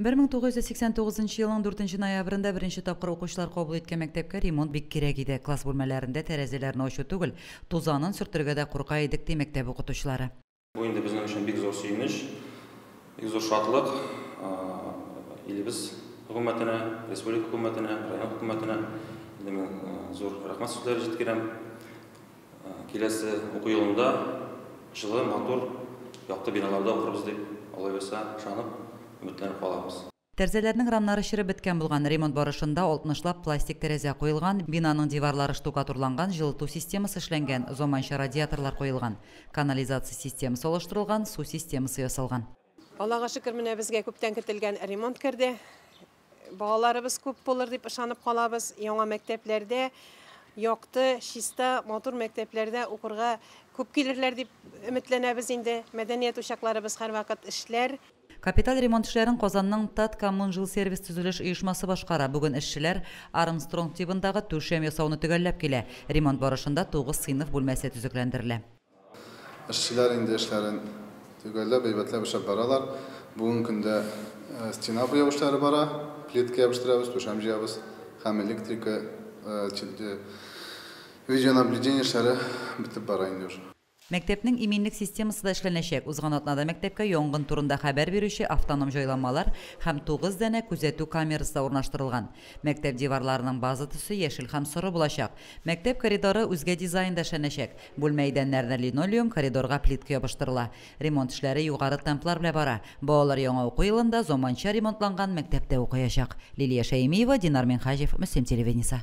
Бер мең тугыз йөз сиксән тугызынчы елның дүртенче ноябрендә беренче тапкыр укучылар кабул иткән мәктәпкә ремонт бик кирәк иде. Класс бүлмәләрендә тәрәзәләрне ачу түгел, тузанын сөртергә дә курка идек, ди мәктәп укытучылары. Бу инде безнең өчен бик зур сөенеч, бик зур шатлык. Илебез хөкүмәтенә, республика хөкүмәтенә, район хөкүмәтенә инде мин зур рәхмәт сүзләре җиткерәм. Киләсе уку елында җылы, матур, якты биналарда укырбыз дип, алай булса, ышанып, өметләнеп калабыз. Тәрзәләрнең рамнары череп беткән булган, ремонт барышында алтмышлап пластик тәрәзә куелган, бинаның диварлары штукатурланган, җылыту системасы эшләнгән, заманча радиаторлар куелган, канализация системасы алыштырылган, су системасы ясалган. Аллага шөкер, менә безгә күптән көтелгән ремонт керде. Балаларыбыз күп булыр дип ышанып калабыз. Яңа мәктәпләрдә якты, чиста, матур мәктәпләрдә укырга күп килерләр дип өметләнәбез инде. Мәдәният учакларыбыз һәрвакыт эшләр. Капиталь ремонт эшләрен Казанның Таткоммунжилсервис төзелеш оешмасы башкара. Бүген эшчеләр Армстронг тибындагы түшәм ясауны төгәлләп килә. Ремонт барышында тугыз сыйныф бүлмәсе төзекләндерелә. Эшчеләр инде эшләрен төгәлләп, әйбәтләп эшләп баралар. Бүгенге көндә стена буяу эшләре бара, плитка ябештерәбез, түшәм җыябыз һәм электрика, видеонаблюдение эшләре бетеп бара инде уже. Мәктәпнең иминлек системасы да эшләнәчәк. Узган атнада мәктәпкә янгын турында хәбәр бирүче автоном җайланмалар һәм тугыз данә күзәтү камерасы да урнаштырылган. Мәктәп диварларының база төсе яшел һәм соры булачак. Мәктәп коридоры үзгә дизайнда эшләнәчәк. Бүлмә идәннәренә линолеум, коридорга плитка ябыштырыла. Ремонт эшләре югары темплар белән бара. Балалар яңа уку елында заманча ремонтланган мәктәптә укыячак. Лилия Шәймиева, Динар Минһаҗев, Мөслим телевидениесе.